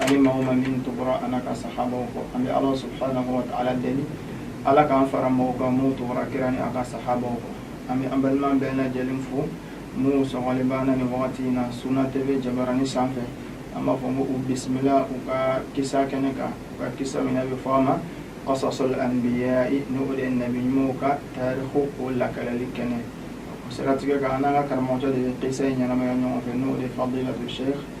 ani maa o maa min tugura a n'a ka sahabaw kɔ an bɛ ala subhanahu wa taala deli ala k'an fara mɔgɔw kan minnu tugura kira ni a ka sahabaw kɔ an bɛ an balima bɛɛ lajɛlen fo minnu sɔgɔlen b'an na ni wagati in na suna TV jabarani sanfɛ an b'a fɔ ko u bisimila u ka kisa kɛnɛ kan u ka kisa min bɛ fɔ a ma qasasal anbiya ni o de ye nabi ɲumanw ka tarikhu o lakalali kɛnɛ o siratigɛ kan an n'an ka karamɔgɔcɛ de bɛ kisa in ɲɛnamaya ɲɔgɔn fɛ n'o de ye fadilatu sheikh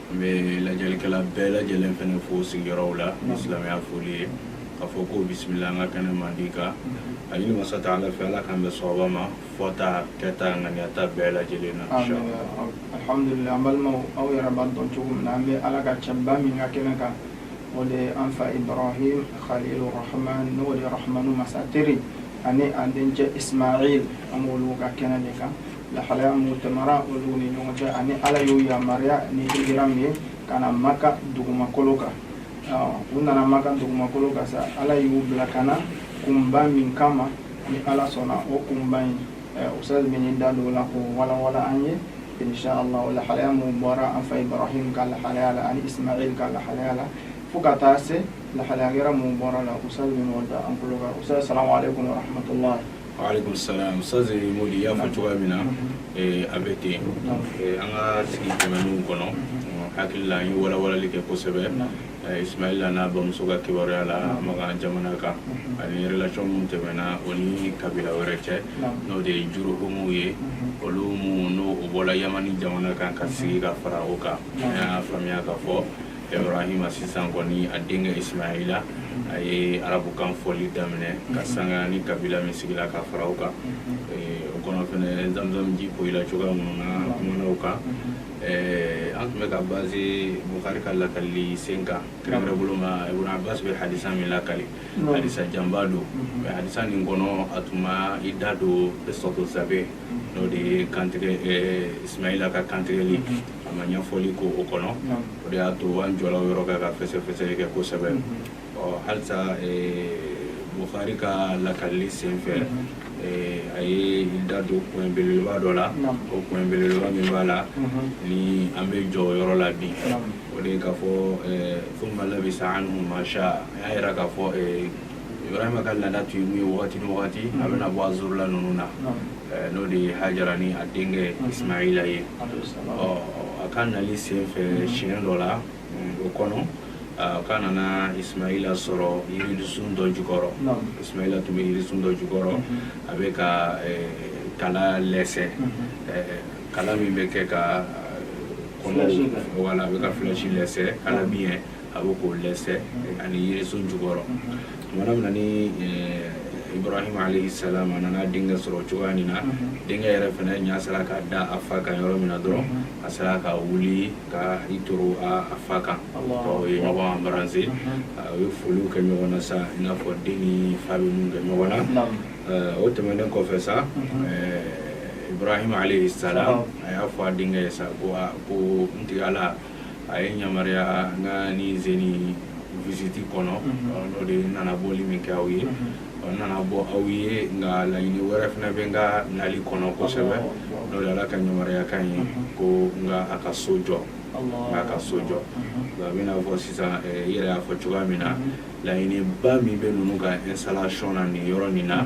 n bɛ lajɛlikɛla bɛɛ lajɛlen fana fo sigiyɔrɔw la ni silamɛya foli ye k'a fɔ ko bisimila an ka kɛnɛ mandi kan a ɲini masa taala fɛ ala k'an bɛn sawaba ma fɔta kɛta ŋaniyata bɛɛ lajɛlen na alhamdulillah an balimaw aw yɛrɛ b'a dɔn cogo min na an bɛ ala ka cɛba min ka kɛnɛ kan o de an fa ibrahim khalilu rahman n'o de rahmanu masa teri ani an dencɛ ismail an b'olu ka kɛnɛ de kan lahalaya mun tɛmɛra olu ni ɲɔgɔn cɛ ani ala y'u yamaruya ni hijira min ye ka na maka dugumakolo kan u nana maka dugumakolo kan sa ala y'u bila ka na kunba min kama ni ala sɔnna o kunba in ustaz bɛna i da don o la k'o walawala an ye inshallah o lahalaya mun bɔra an fa ibrahim ka lahalaya la ani ismail ka lahalaya la fo ka taa se lahalaya wɛrɛ mun bɔra a la ustaz bɛn'o da an tulo kan ustaz salamu aleykum warahmatullahi Walekum salam ustaz Modi y'a fɔ cogoya min na eh, a bɛ ten eh, an ka sigi tɛmɛnenw kɔnɔ hakili la an ye walawalali kɛ kosɛbɛ eh, Ismaila n'a bamuso ka kibaruya la Maka jamana kan ani relation min tɛmɛna o ni kabila wɛrɛ cɛ n'o de ye Juruhumu ye olu minnu n'o bɔla Yamani jamana kan ka sigi ka fara o kan an y'a faamuya k'a fɔ ibrahima sisan kɔni a denkɛ ismaila a ye arabukan fɔli daminɛ ka mhm. sanga ni kabila min sigila ka fara o kan mhm. eh, o kɔnɔ fɛnɛ zamzam ji poyila cogoya minnu na mhm. kumana o kan eh, an tun bɛ ka base bukari ka lakalili sen kan kɛrɛnkɛrɛn bolo ma ibn abbas bɛ hadisa min lakali hadisa janba don mais hadisa nin kɔnɔ a tun ma i da don qissatu zabih n'o de ye kantigɛ eh, ismaila ka kantigɛli a ma ɲɛfɔli kɛ o kɔnɔ o de y'a to an jɔla o yɔrɔ kan ka fɛsɛfɛsɛli kɛ kosɛbɛ ɔ halisa bukari ka lakalili sen fɛ a ye i da don koɲɛ belebeleba dɔ la o koɲɛ belebeleba min b'a la ni an bɛ jɔ o yɔrɔ la bi o de ye k'a fɔ thumma labisa anhum ma shaa a y'a yira k'a fɔ ibrahima ka laada tun ye mun ye wagati ni wagati a bɛna bɔ a zurula ninnu na n'o de ye hajara ni a denkɛ ismaila ye a ka nali sen fɛ siɲɛ dɔ la o kɔnɔ k'a nana ismaila sɔrɔ yirisun dɔ jukɔrɔ ismaila tun bɛ yirisun dɔ jukɔrɔ a bɛ ka kala lɛsɛ kala min bɛ kɛ ka kɔnɔ wala a bɛ ka flèche lɛsɛ kala min ye a bɛ k'o lɛsɛ ani yirisun jukɔrɔ tumana min na ni ibrahim alayhi salam a nana denkɛ sɔrɔ cogoya nin na denkɛ yɛrɛ fana ɲa sera ka da a fa kan yɔrɔ min na dɔrɔn a sera ka wuli ka i toro a fa kan u ye ɲɔgɔn embrasser u ye foliw kɛ ɲɔgɔn na sa i n'a fɔ den ni fa bɛ mun kɛ ɲɔgɔn na o tɛmɛnen kɔfɛ sa ibrahim alayhi salam a y'a fɔ a denkɛ ye sa ko ko n tigi ala a ye n yamaruya n ka ni zeni visite kɔnɔ n'o de n nana bɔli min kɛ aw ye n nana bɔ aw ye nka laɲini wɛrɛ fana bɛ n ka nali kɔnɔ kosɛbɛ n'o de ala ka yamaruya kan ye ko n ka a ka so jɔ n ka a ka so jɔ a bɛna fɔ sisan i yɛrɛ y'a fɔ cogoya min na laɲiniba min bɛ ninnu ka installation na nin yɔrɔ nin na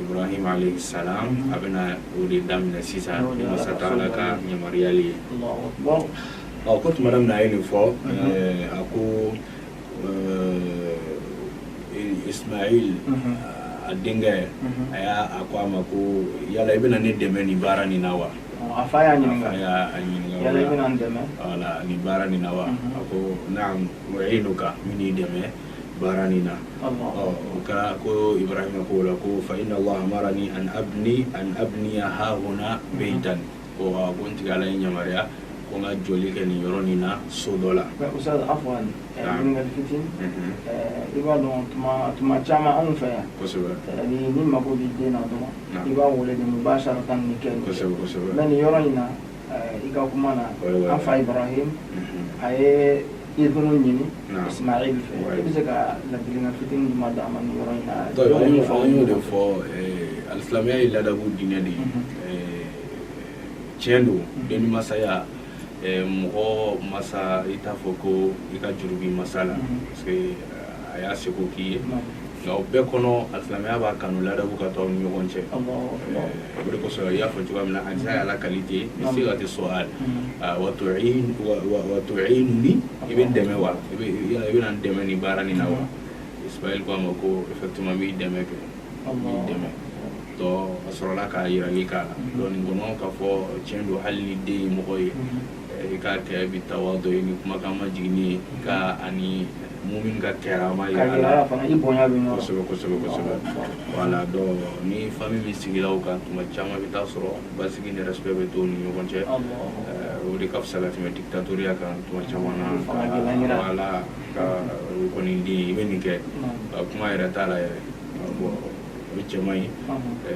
Ibrahim alayhi salam a bɛna o de daminɛ sisan ni Masa Taala ka yamaruyali ye ɔ ko tuma min na a ye nin fɔ a ko Ismail a denkɛ a y'a a ko a ma ko yala i bɛna ne dɛmɛ nin baara nin na wa a fa y'a ɲininka a fa y'a ɲininka yala i bɛna n dɛmɛ nin baara nin na wa a ko naamu u'inuka n bɛn'i dɛmɛ baara nin na o kɛra ko ibrahima k'o la ko fa inna allaha amarani an abni an abniya hahuna beitan ko a ko n tigi ala ye n yamaruya ko n ka jɔli kɛ nin yɔrɔ nin na so dɔ la ustaz afwan ɲininkali fitinin i b'a dɔn tuma tuma caman anw fɛ yan kosɛbɛ n'i n'i mago b'i den na dɔrɔn i b'a wele de mubasharatan nin kɛ kosɛbɛ kosɛbɛ mais nin yɔrɔ in na i ka kuma na an fa ibrahim a ye izinu ɲini ismail fɛ i bɛ se ka ladilikan fitinin jumɛn d'an ma yɔrɔ in na an y'o de fɔ alisilamɛya ye ladabu diinɛ de ye tiɲɛ don den ni masaya mɔgɔ masa i t'a fɔ ko i ka juru b'i masa la parce que a y'a seko k'i ye nka o bɛɛ kɔnɔ alisilamɛya b'a kanu ladabu ka to aw ni ɲɔgɔn cɛ o de kosɔn i y'a fɔ cogoya min na hadisi y'a lakali ten bi sigati su'al wa tu'inuni i bɛ n dɛmɛ wa i bɛna n dɛmɛ nin baara nin na wa ismail ko a ma ko effectivement n b'i dɛmɛ kɛ n b'i dɛmɛ donc a sɔrɔla ka yirali k'a la donc nin kɔnɔ k'a fɔ tiɲɛ don hali ni den ye mɔgɔ ye I k'a kɛ bi tawadu ye ni kumakan majiginnen ye ka ani mumin ka karama yira la voilà donc ni famille min sigira o kan tuma caman bɛ taa sɔrɔ basigi ni respect bɛ to ni ɲɔgɔn cɛ o de ka fisa ka tɛmɛ dictatoriya kan tuma caman na ka kɔni den i bɛ nin kɛ kuma yɛrɛ t'a la yɛrɛ o cɛ man ɲi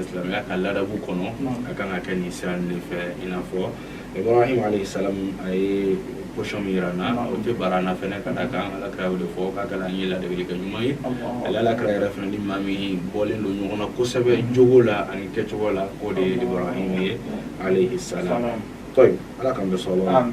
silamɛya ka ladabu kɔnɔ a kan ka kɛ nin sira de fɛ i n'a fɔ ibrahim alayhi salam a ye position min yira an na o tɛ bara an na fɛnɛ ka da kan ala kira y'o de fɔ k'a kɛra an ye ladegeli kɛ ɲuman ye ale ala kira yɛrɛ fɛnɛ ni maa min bɔlen don ɲɔgɔn na kosɛbɛ jogo la ani kɛcogo la k'o de ye ibrahim ye alayhi salam tayib ala k'an bɛɛ sɔn o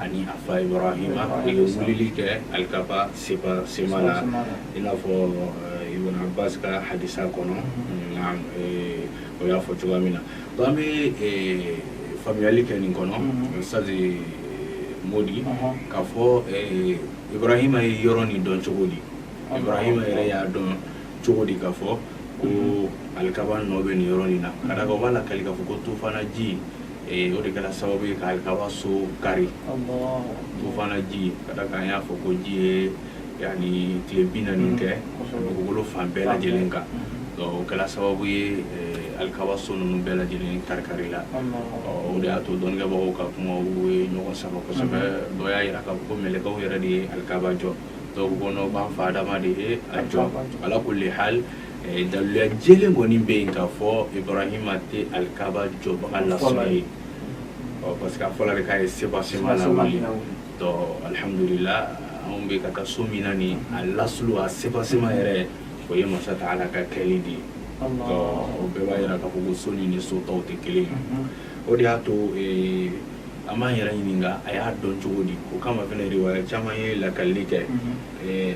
ani a fa ibrahima ye wulili kɛ alikaba seba sema la i n'a fɔ eh, ibn abbas ka hadisa kɔnɔ mm-hmm. naam eh, o y'a fɔ cogoya min na donc an bɛ eh, faamuyali kɛ nin kɔnɔ mm-hmm. ustazi modi uh-huh. k'a fɔ ibrahima ye yɔrɔ nin dɔn cogo di uh-huh. ibrahima yɛrɛ y'a dɔn cogo di k'a fɔ ko mm-hmm. alikaba nɔ bɛ nin yɔrɔ nin na ka da kan o b'a lakali k'a fɔ ko tufana ji ee o de kɛra sababu ye ka alikaaba so kari tufana ji ka da kan an y'a fɔ ko ji ye yani tile bi naani kɛ dugukolo fan bɛɛ lajɛlen kan donc o kɛra sababu ye alikaaba so ninnu bɛɛ lajɛlen kari-kari la o de y'a to dɔnnikɛbagaw ka kumaw ye ɲɔgɔn sama kosɛbɛ dɔ y'a yira k'a fɔ ko mɛlɛkɛw yɛrɛ de ye alikaaba jɔ dɔw ko n'o b'an fa adama de ye a jɔ ala kulli hal daluya jɛlen kɔni bɛ yen k'a fɔ ibrahima tɛ alikaba jɔbaga lasulu ye parce que a fɔra de k'a ye seba sema la wuli donc alihamudulila anw bɛ ka taa so min na nin a lasulu a seba sema yɛrɛ o ye masa taala ka kɛli de ye donc o bɛɛ b'a yira k'a fɔ ko so ni ni so tɔw tɛ kelen ye o de y'a to an b'an yɛrɛ ɲininka a y'a dɔn cogo di o kama fɛnɛ riwaya caman ye lakalili kɛ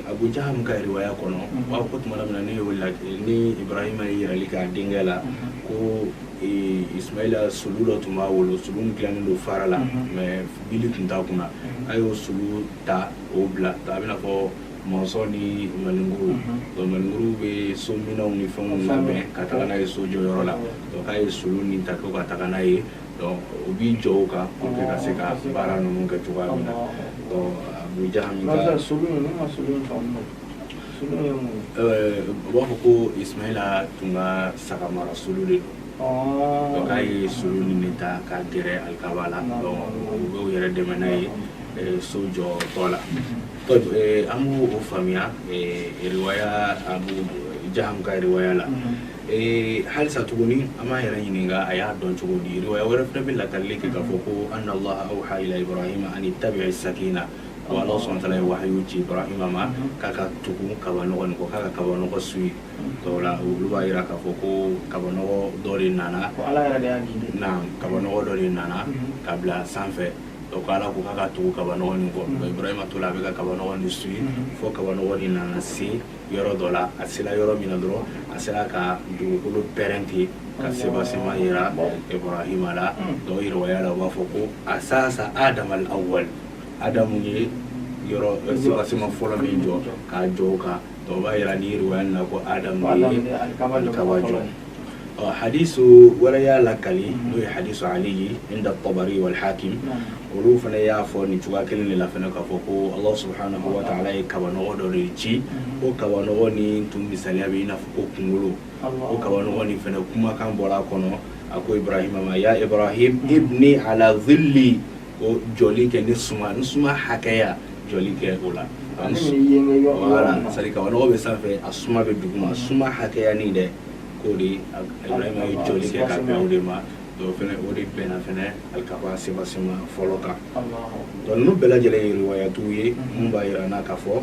abu jahamu ka riwaya kɔnɔ u b'a fɔ ko tuma min na ni ibrahima ye yirali kɛ a denkɛ la ko ismaila solu dɔ tun b'a bolo solu nin dilanen don fara la mais bili tun t'a kunna a y'o solu ta o bila a b'i n'a fɔ mansɔn ni maninkuru donc maninkuru bɛ so minɛnw ni fɛnw labɛn ka taga n'a ye so jɔyɔrɔ la donc k'a ye solu nin ta ko ka taga n'a ye Donc u b'i jɔ o kan pour que ka se ka baara ninnu kɛ cogoya min na, donc Abu Jahamu ka, an bɛ se ka solu in, ne ma solu in faamu mɛnɛ, solu ye mun ye? Ɛɛ u b'a fɔ ko Ismaila tun ka sagamara solu de don, ɔɔ, donc k'a ye solu nin de ta ka gɛrɛ alikaba la, donc u bɛ u yɛrɛ dɛmɛ n'a ye ɛɛ so jɔtɔ la, donc an b'o o faamuya ɛɛ riwaya Abu Jahamu ka riwaya la Ee halisa tuguni an b'a yɛrɛ ɲini a y'a dɔn cogo di wa wɛrɛ fana bɛ lali kɛ k'a fɔ ko an halayi ani tabiya sa in na a ala sɔn ye wa ci ma k'a ka tugu kaba ɲɔgɔn kɔ k'a ka kaba nɔgɔ su ye olu b'a jira k'a fɔ ko kaba dɔ de nana kaba dɔ de nana ka bila sanfɛ ko ala ko k'a ka tugu kaba kɔ ma to a bɛ ka kaba su fo kaba nana se yɔrɔ dɔ la a sera yɔrɔ min na dɔrɔn a sera ka dugukolo pɛrɛn ten ka sebasema yira ibrahima la dɔw riwaya la u b'a fɔ ko asasa adama al awal adamu ye yɔrɔ sebasema fɔlɔ min jɔ k'a jɔ o kan dɔw b'a yira ni riwaya nin na ko adamu ye alikaba jɔ hadisu wɛrɛ y'a lakali n'o ye hadisu ali ye inda tabari wal hakim olu fana y'a fɔ nin cogoya kelen de la fana k'a fɔ ko allah subhanahu wa ta'ala ye kabanɔgɔ dɔ de ci o kabanɔgɔ ni tun misaliya bɛ i n'a fɔ ko kunkolo o kabanɔgɔ nin fana kumakan bɔra a kɔnɔ a ko ibrahima ma ya ibrahim ibni ala zilli ko jɔli kɛ ne suma ne suma hakɛya jɔli kɛ o la sari kabanɔgɔ bɛ sanfɛ a suma bɛ duguma suma hakɛya nin dɛ k'o de ibrahima ye jɔli kɛ ka bɛn o de ma dɔw fɛnɛ o de bɛnna fɛnɛ alikaba sebasema fɔlɔ kan dɔnku ninnu bɛɛ lajɛlen ye riwayatuw ye min b'a yira an na k'a fɔ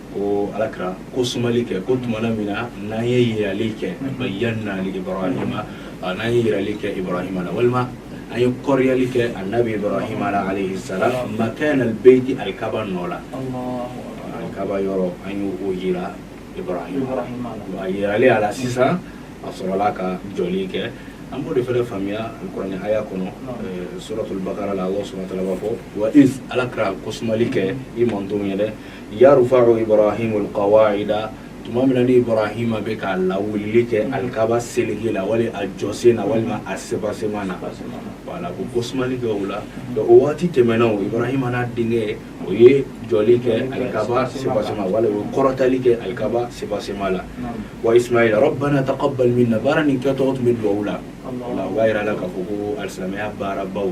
ko ala kira ko sumali kɛ ko tuma min na n'an ye yirali kɛ bayyanna li ibrahima n'an ye yirali kɛ ibrahima la walima an ye kɔrɔyali kɛ anabi ibrahima la alayhi salam makana albeyti alikaba nɔ la alikaba yɔrɔ an y'o o yira ibrahima la a yirali a la sisan a sɔrɔla ka jɔli kɛ an b'o de fana faamuya kuranɛ haya kɔnɔ eh, suratul bakara la allah subhanahu wa ta'ala b'a fɔ wa iz ala kira ko sumali kɛ i mantonw ye dɛ Yarfa'u ibrahimu l qawa'ida tuma min na ibrahima bɛ ka lawulili kɛ alikaba siliw la wali a jɔsenw na walima a sebasema na wala ko ko sumali kɛ o la o waati tɛmɛnen na ibrahima n'a denkɛ u ye jɔli kɛ alikaba sebasema wali o kɔrɔtali kɛ alikaba sebasema la wa ismail rabbana taqabbal minna baara nin kɛtɔ u tun bɛ dugawu la wala o b'a jira la k'a fɔ ko alisamaya baara baw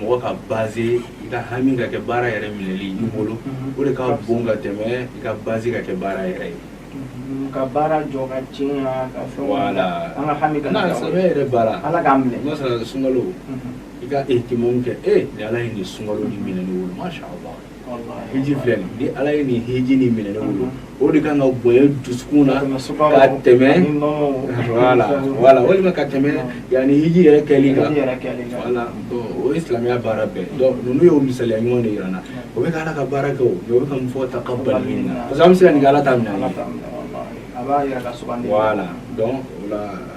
mɔgɔ ka base i ka hami ka kɛ baara yɛrɛ minɛli i bolo o de ka bon ka tɛmɛ i ka base ka kɛ baara yɛrɛ ye ka baara jɔ ka tiɲɛ na ka fɛn wala an ka hami ka na sɛbɛn yɛrɛ baara ala k'a minɛ n'a sɔrɔ sunkalo i ka ihtimamu kɛ e ni ala ye nin sunkalo nin minɛ ne bolo masha Allah hiji filɛ nin ni ala ye nin hiji nin minɛ ne bolo o de kan ka bonya dusukun na ka tɛmɛ wala wala walima ka tɛmɛ yanni hiji yɛrɛ kɛli kan wala o ye silamɛya baara bɛɛ donc ninnu y'o misaliya ɲuman de yira an na o bɛ ka ala ka baara kɛ o mɛ o bɛ ka mun fɔ taqabbal minna parce que an bɛ se ka nin kɛ ala t'a minɛ an ye wala donc o la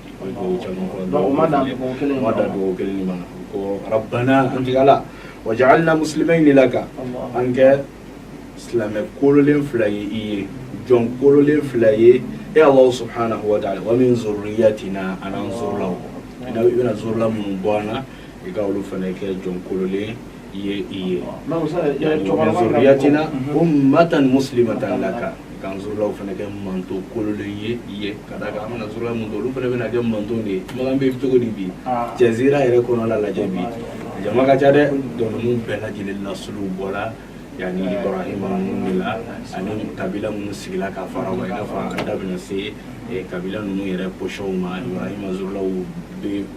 Rabbana waj'alna muslimaini laka an kɛ silamɛ kololen fila ye i ye jɔn kololen fila ye e ala subhanahu wa taala wa min zurriyatina an zurula i bɛna zurula minnu bɔ an na i ka olu fana kɛ jɔn kololen k'an zurulaw fana kɛ mantɔn kololen ye i ye ka d'a kan an bɛna zurula mun olu fana bɛna kɛ mantɔn de ye makan bɛ cogo di bi jazira yɛrɛ kɔnɔ la lajɛ bi jama ka ca dɛ donc ninnu bɛɛ lajɛ lajɛlen nasulu bɔla yanni ibrahima ninnu de la ani kabila minnu sigila ka fara wa i n'a fɔ an da bɛna se kabila ninnu yɛrɛ position ma ibrahima zurulaw bɛ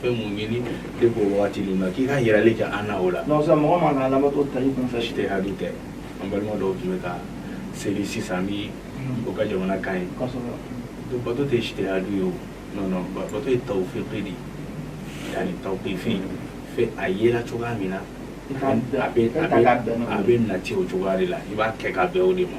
fɛn mun ɲini depuis o wagati nin na k'i ka yirali kɛ an na o la donc sisan mɔgɔ man ka ala bato ta i kun fɛ ijtihadu tɛ an balima dɔw tun bɛ ka seli sisan ni o ka jamana kan ye donc bato tɛ ijtihadu ye o non non bato ye tawufiki de yani tawukifi fɛ a yela cogoya min na a bɛ nati o cogoya de la i b'a kɛ ka bɛn o de ma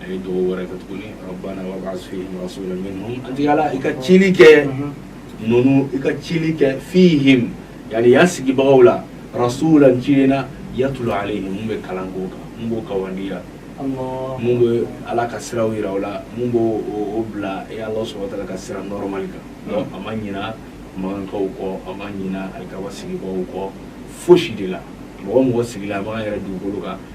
a ye dugawu wɛrɛ kɛ tuguni rabbana wab'as fihim rasulan minhum an tigi ala i ka cili kɛ ninnu i ka cili kɛ fihim yani yan sigibagaw la rasulan ciden yatlu alayhim mun bɛ kalan k'o kan mun b'o kawandiya mun bɛ ala ka siraw yira o la mun b'o o bila e ala subhanahu wa taala ka sira normal kan donc a ma ɲina makankaw kɔ a ma ɲina alikaba sigibagaw kɔ fosi de la mɔgɔ o mɔgɔ sigila a b'an yɛrɛ dugukolo kan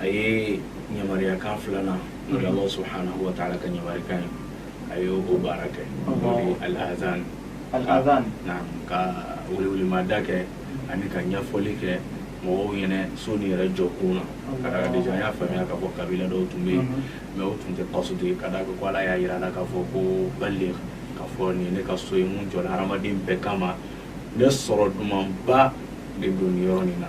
a ye ɲamariyakan filanan n'o ye Alahu subhanahu wa taala ka ɲamarikan ye a ye o baara kɛ n'o ye al-azaan al-azaan naam ka welewelemada kɛ ani ka ɲɛfɔli kɛ mɔgɔw ɲɛna so nin yɛrɛ jɔ kun na ka d'a kan déjà an y'a faamuya k'a fɔ kabila dɔw tun bɛ yen mais o tun tɛ qasdi ye ka d'a kan ko Ala y'a yira a la k'a fɔ ko baligh k'a fɔ nin ye ne ka so ye mun jɔla hadamaden bɛɛ kama ne sɔrɔ dumanba de don nin yɔrɔ nin na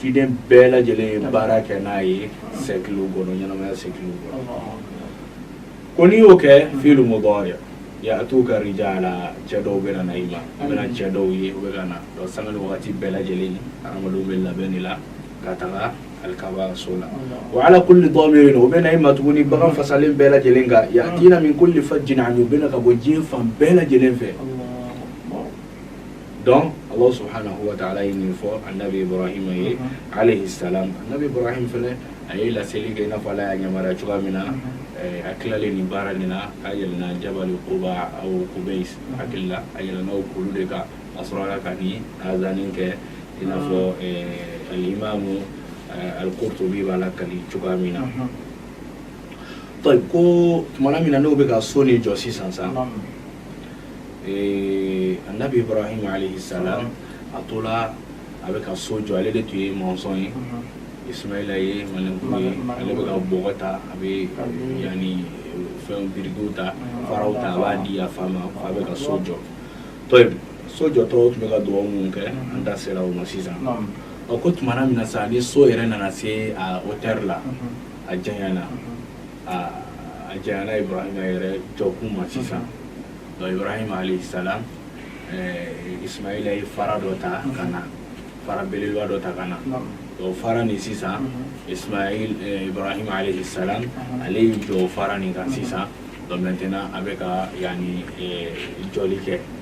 ciden bɛɛ lajɛlen ye baara kɛ n'a ye sɛkiliw kɔnɔ ɲɛnamaya sɛkiliw kɔnɔ ko n'i y'o kɛ fiilu mudari ya'tuka rijala cɛ dɔw bɛ na i ma a bɛna cɛ dɔw ye u bɛ ka na donc sanga ni wagati bɛɛ lajɛlen adamadenw bɛ labɛn de la ka taga alikaba so la wa ala kulli damirin u bɛ na i ma tuguni bagan fasalen bɛɛ lajɛlen kan ya'tina min kulli fajjin amik u bɛ na ka bɔ diɲɛ fan bɛɛ lajɛlen fɛ donc ala subahana wa taala ye nin fɔ anabi ibrahima ye alayhi salam anabi ibrahim fɛnɛ a ye laseli kɛ i n'a fɔ ala y'a yamaruya cogoya min na a tilalen nin baara nin na a yɛlɛnna jabali kuba aw kubeis hakili la a yɛlɛnna o kulu de kan a sɔrɔla ka nin azani kɛ i n'a fɔ alimamu alkurtubi b'a lakali cogoya min na tayib ko tumana min na n'o bɛ ka so nin jɔ sisan sa ee anabi ibrahim alayhi salam a tola a bɛ ka so jɔ ale de tun ye mɔsɔn ye ismaila ye malinkun ye ale bɛ ka bɔgɔ ta a bɛ yani fɛn birikiw ta faraw ta a b'a di a fa ma fa bɛ ka so jɔ tayib so jɔtɔ u tun bɛ ka dugawu minnu kɛ an da sera o ma sisan ɔ ko tumana min na sa ni so yɛrɛ nana se a hauteur la a janyana aa a janyana ibrahima yɛrɛ jɔkun ma sisan donc ibrahima alayhi salam eh, ismaila ye fara dɔ ta ka na fara belebeleba dɔ ta ka na o fara nin sisan ismail eh, ibrahima alayhi salam ale y'i jɔ o fara nin kan sisan donc maintenant a bɛ ka yani eh, jɔli kɛ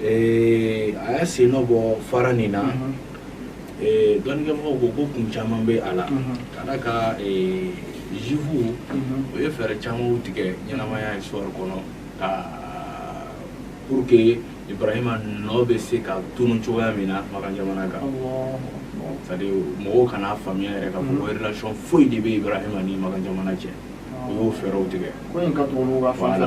Ee a y'a sen nɔ bɔ fara nin na dɔnnikɛmɔgɔw ko ko kun caman bɛ a la ka d'a kan juifu o ye fɛɛrɛ caman tigɛ ɲɛnamaya histoire kɔnɔ ka pour que ibrahima nɔ bɛ se ka tunu cogoya min na makan jamana kan c'est-à-dire mɔgɔw kan'a faamuya yɛrɛ k'a fɔ ko relation foyi de bɛ ibrahima ni makan jamana cɛ u y'o fɛɛrɛw tigɛ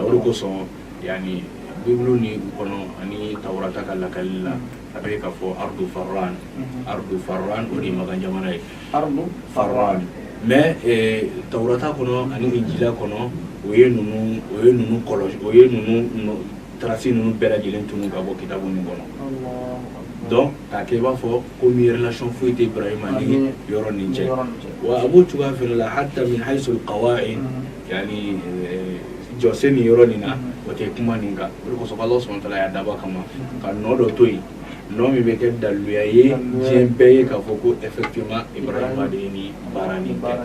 o kosɔn yani bibulu ni u kɔnɔ ani tawurata ka lakali la a bɛ ka fɔ ardu farran mhm. ardu farran o de ye makan jamana ye ardu farran mais eh, tawurata kɔnɔ ani injila kɔnɔ o ye ninnu o ye ninnu kɔlɔsi o ye ninnu trace ninnu bɛɛ lajɛlen tunu ka bɔ kitabu nin kɔnɔ donc k'a kɛ i b'a fɔ komi relation foyi tɛ ibrahima ni yɔrɔ nin cɛ wa a b'o cogoya fana la hata min haisul qawaid Yani jɔsen nin yɔrɔ nin na o tɛ kuma nin kan o de kosɔn ala subahana wa taala y'a dabɔ kama ka nɔ dɔ to yen nɔ min bɛ kɛ daluya ye diɲɛ bɛɛ ye k'a fɔ ko effectivement ibrahima de ye nin baara nin kɛ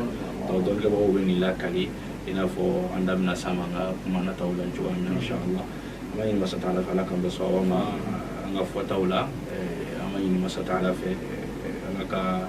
donc dɔnnikɛbagaw bɛ nin lakali i n'a fɔ an da bɛna s'a ma an ka kuma nataw la cogoya min na inshallah an b'a ɲini masa taala fɛ ala k'an bɛn sawaba ma an ka fɔtaw la an b'a ɲini masa taala fɛ ala ka